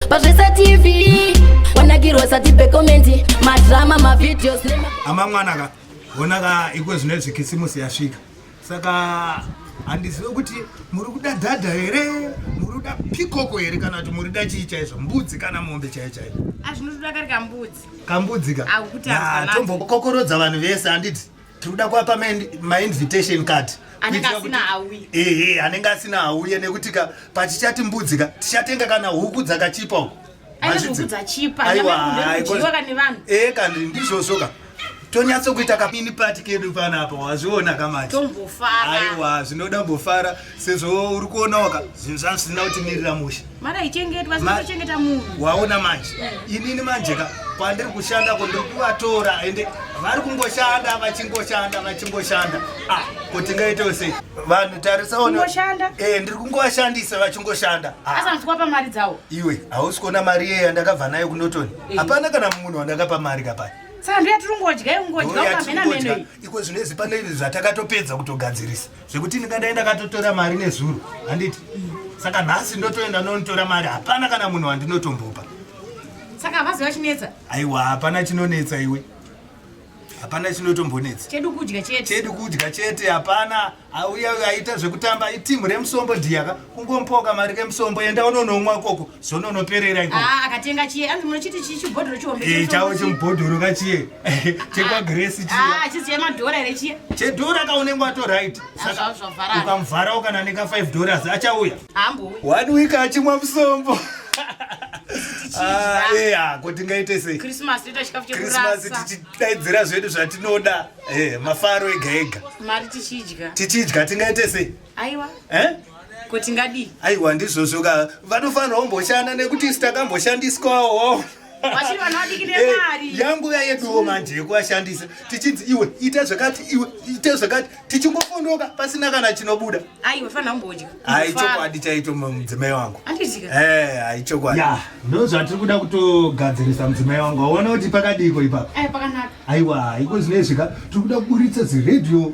pazvesa tv wanakirwa sati pekomenti madrama mavideos ama mwana ka hona ka ikwe zvine zvikisimusi yasvika saka handizive kuti muri kuda dhadha here muri kuda pikoko here kana kuti muri da chii chaizvo mbudzi kana mombe chaiyo chaiyo azvinotoda kari kambudzi kambudzi ka atombokokorodza vanhu vese handiti tinoda kuapa mainvitation card anenge asina auye ehe anenge asina auye nekuti ka pachichati mbudzi ka tichatenga kana huku dzakachipa uko ee kandi ndizvozvo ka tonyatsokuita kapini pati kedu panapa wazviona kamati aiwa zvinoda mbofara sezvo uri kuonawo ka zvinhu zvangu zvisina kutimirira mushe mara ichengetwa zinochengeta munhu waona manje inini manje ka pandiri kushanda ko ndiri kuvatora ende vari kungoshanda vachingoshanda vachingoshanda ah ko tingaitewo sei vanhu tarisaonoshanda e eh, ndiri kungovashandisa vachingoshanda ah. asanzwa pamari dzawo iwe hausi kuona mari iye yandakabva nayo kunotoni eh. hapana kana munhu wandakapa mari kapaya saka ndoyatiri kungodya ikungodya ukamenamenoi iko zvinozi pane zvatakatopedza kutogadzirisa zvekuti ndikadai ndakatotora mari nezuro handiti saka nhasi ndotoenda nonitora mari hapana kana munhu wandinotombopa saka havazi vachinetsa aiwa hapana chinonetsa iwe hapana chinotombonetsa chedu kudya chete chedu kudya chete hapana auya aita zvekutamba itimu remusombo dhiyaka kungompoka mari kemusombo enda unonomwa ikoko sononoperera iko ah, akatenga chiye anzi munochiti chii chibhodhoro chihombe eh, chavo chimubhodhoro kachiye chekwagresi ah, chiye ah, chiziya madhora here chiye chedhora kaunenge wato right ukamuvharawo kana neka 5 dollars achauya hambouya one week achimwa musombo ko tingaite seichristmas tichidaidzira zvedu zvatinoda eh, mafaro ega ega tichidya tingaite sei aiwa eh? kuti ngadii aiwa ndizvozvo ka vanofanira kumboshanda nekuti sitakamboshandiswawo yangu yayeduwo manje yekuashandisa tichinzi iwe ita zvakati iwe ita zvakati tichingofondoka pasina kana chinobuda aichokwadi chaito mudzimai wangu aichokwadi ndo zvatiri kuda kutogadzirisa mudzimai wangu aona kuti pakadiiko ipapa aiwa iko zvinezvika tiri kuda kuburitsa ziredio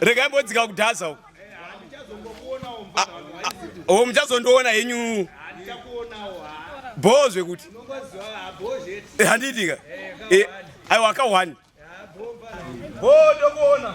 regai mbodzika kudhaza uko o ah, muchazondiona henyu bhoo zvekuti eh, handiitika eh, aiwa ka one bhoo ndokuona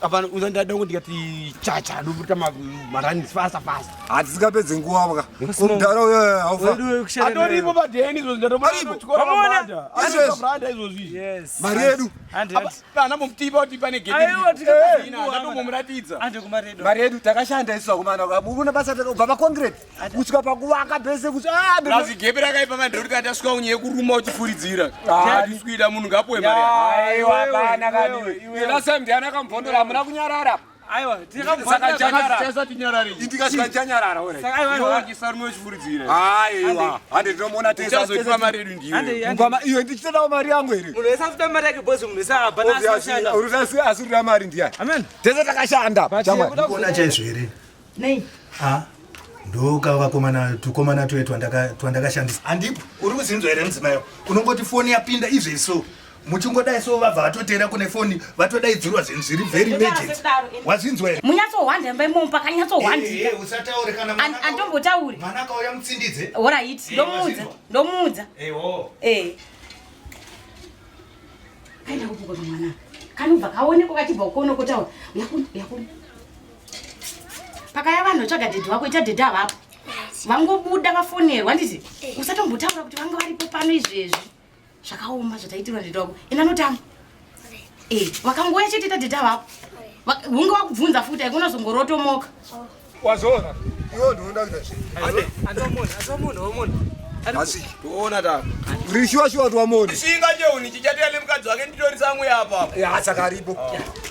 Apana uzandada kuti ndikati chacha ndobuta marani fast fast. Hatisingapedze nguva baka. Kumdara uyo haufa. Atoripo padeni izvo ndatomara kuchikora mabanda. Izvo branda izvo zvi. Yes. Mari yedu. Kana mumtipa kuti pane gate. Aiwa tikapazina ndatomumuratidza. Ande kumaredo. Mari yedu takashanda isu akomana. Mukuna basa takabva pa concrete. kusvika pakuvaka pese kuzigebe ah, rakaipa mandoriti atasvika unye yekuruma uchifuridzira adiswida ah, munhu ngapuwe mariasamdiana akamubhondora hamuna kunyarara iyo ndichitodawo mari yangu here asi rira mari ndiya tese takashanda chaizvo here Nei? Ah, ndoka vakomana tukomana tuye twandakashandisa. Handipo, uri kuzinzwa here mudzimai? Unongoti foni yapinda izve so. muchingodai so vabva vatotera kune foni vatodaidzirwa zvinhu zviri very emergency wazvinzwa here munyatsohwanda imba imomo pakanyatsohwandika usataure kana andombotauri mwana akauya mutsindidze orit ndomuudza ndomuudza eh kaenda kupuka kamwana kanobva kaonekwa kachibva kukonokotaura yakun yakun pakaya vanhu tsvaga dhedhi wako ita dhedhi avapo vangobuda vafonerwa ndizi eh. usatombotaura kuti vanga varipo pano izvezvi zvakaoma zvataitirwa dhedhi wako ina notamba eh, vakangouya chete ita dhedhi avapo hunge wakubvunza futi aikunazongorotomoka oh. wazoona iwe ndinoda kuita zvinhu asi toona ta rishuwa shuwa twamoni singa cheuni chichatirane mukadzi wake nditori samwe apa eh, asaka aripo ah.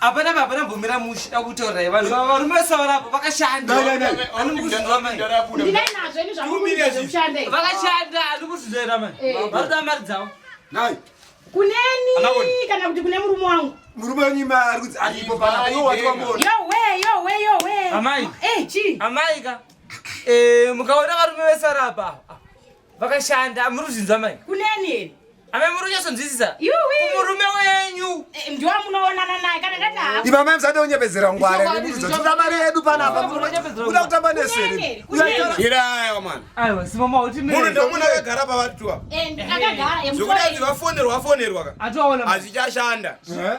Hapana baba nambomira mushe takutorai vanhu vava varume vesawa rapo vakashanda vakashanda ani kuzizoera mai varuda mari dzavo kuneni kana kuti kune murume wangu murume wenyu mari kudzi aripo pana uyo wati wamona yowe yowe yowe amai eh, amai ka eh, mukaona varume vesarapa Vakashanda muri kuzvinzwa mai. Kuneni here? Ame muri kunyasonzwisisa. Kumurume wenyu. Eh, Ndiwa munoonana naye kana ndati hapo. Iba mai msade unyepedzera ngware. Kuda mari yedu pana apa. Kuda kutamba neseri. Ira ayo man. Ayo simama uti mimi. Muri ndo muna kagara pa watu wa. Eh, akagara. Zvikuda vafonerwa vafonerwa ka. Atoona. Azvichashanda. Eh?